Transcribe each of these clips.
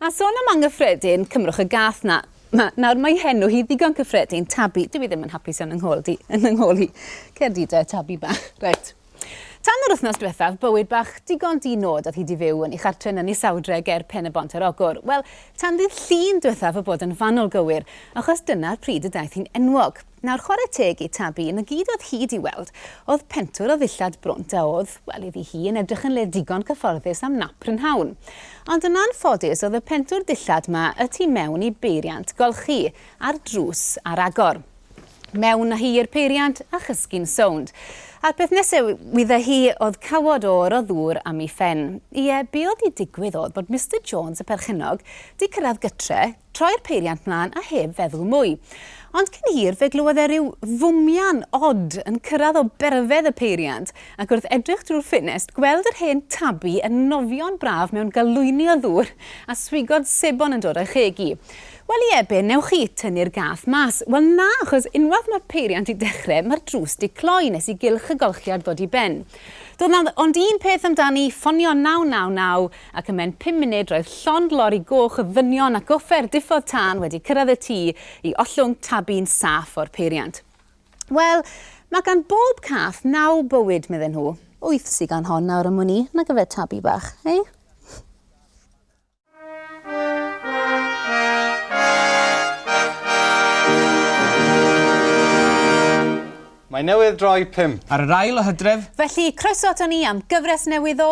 A sôn am anghyffredin, cymrwch y gath 'na. Ma, nawr mae henw hi ddigon cyffredin, Tabi. Dyw hi ddim yn hapus iawn yng nghôl di, yn yng nghôl hi. Cer di de, Tabi bach. Reit. Tan yr wythnos diwethaf, bywyd bach digon di-nod oedd hi 'di fyw yn ei chartre yn Ynys Sawdre ger Pen y Bont yr Ogwr. Wel, tan ddydd Llun diwethaf o bod yn fanwl gywir, achos dyna'r pryd y daeth hi'n enwog. Nawr chwarae teg i Tabi, na gyd oedd hi 'di weld oedd pentwr o ddillad brwnt a oedd, wel, iddi hi, yn edrych yn le digon cyfforddus am nap prynhawn. Ond yn anffodus oedd y pentwr dillad 'ma y tu mewn i beiriant golchi, ar drws ar agor. Mewn â hi i'r peiriant a chysgu'n sownd. A'r peth nesaf wydda hi oedd cawod oer o ddŵr am ei phen. Ie, be oedd 'di digwydd oedd bod Mister Jones, y perchennog, 'di cyrraedd gytre, Troi'r peiriant mlân a heb feddwl mwy. Ond cyn hir fe glywodd e ryw fwmian od yn cyrradd o berfedd y peiriant, ac wrth edrych drwy'r ffenest gweld yr hen Tabi yn nofio'n braf mewn galwyni o ddŵr a swigod sebon yn dod o'i cheg i. Wel ie, be newch chi, tynnu'r gath mas? Wel na, achos unwaith mae'r peiriant di dechre, mae'r drws di cloi nes i gylch y golchiad ddod i ben. Doedd 'na ond un peth amdani, ffonio 999, ac ym mhen pum munud roedd llond lori goch o ddynion ac offer diffodd tân wedi cyrraedd y tŷ i ollwng tabi'n saff o'r peiriant. Wel, mae gan bob cath naw bywyd, medden nhw. Wyth sy gan hon nawr am wn i, nag yfe tabi bach, hei? Mae newydd droi pump. Ar yr ail o Hydref. Felly, croeso aton ni am gyfres newydd o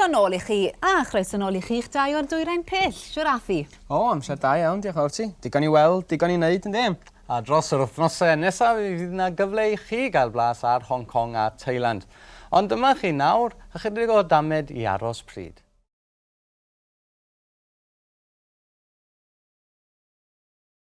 croeso nôl i chi, a chroeso nôl i chi'ch dau o'r dwyrain pill, siwr a fi. O, amser da iawn, diolch fawr ti. Digon i weld, digon i wneud, yn ddim. A dros yr wythnosau nesaf y fydd yna gyfle i chi gael blas ar Hong Kong a Thailand. Ond dyma chi nawr ychydig o damed i aros pryd.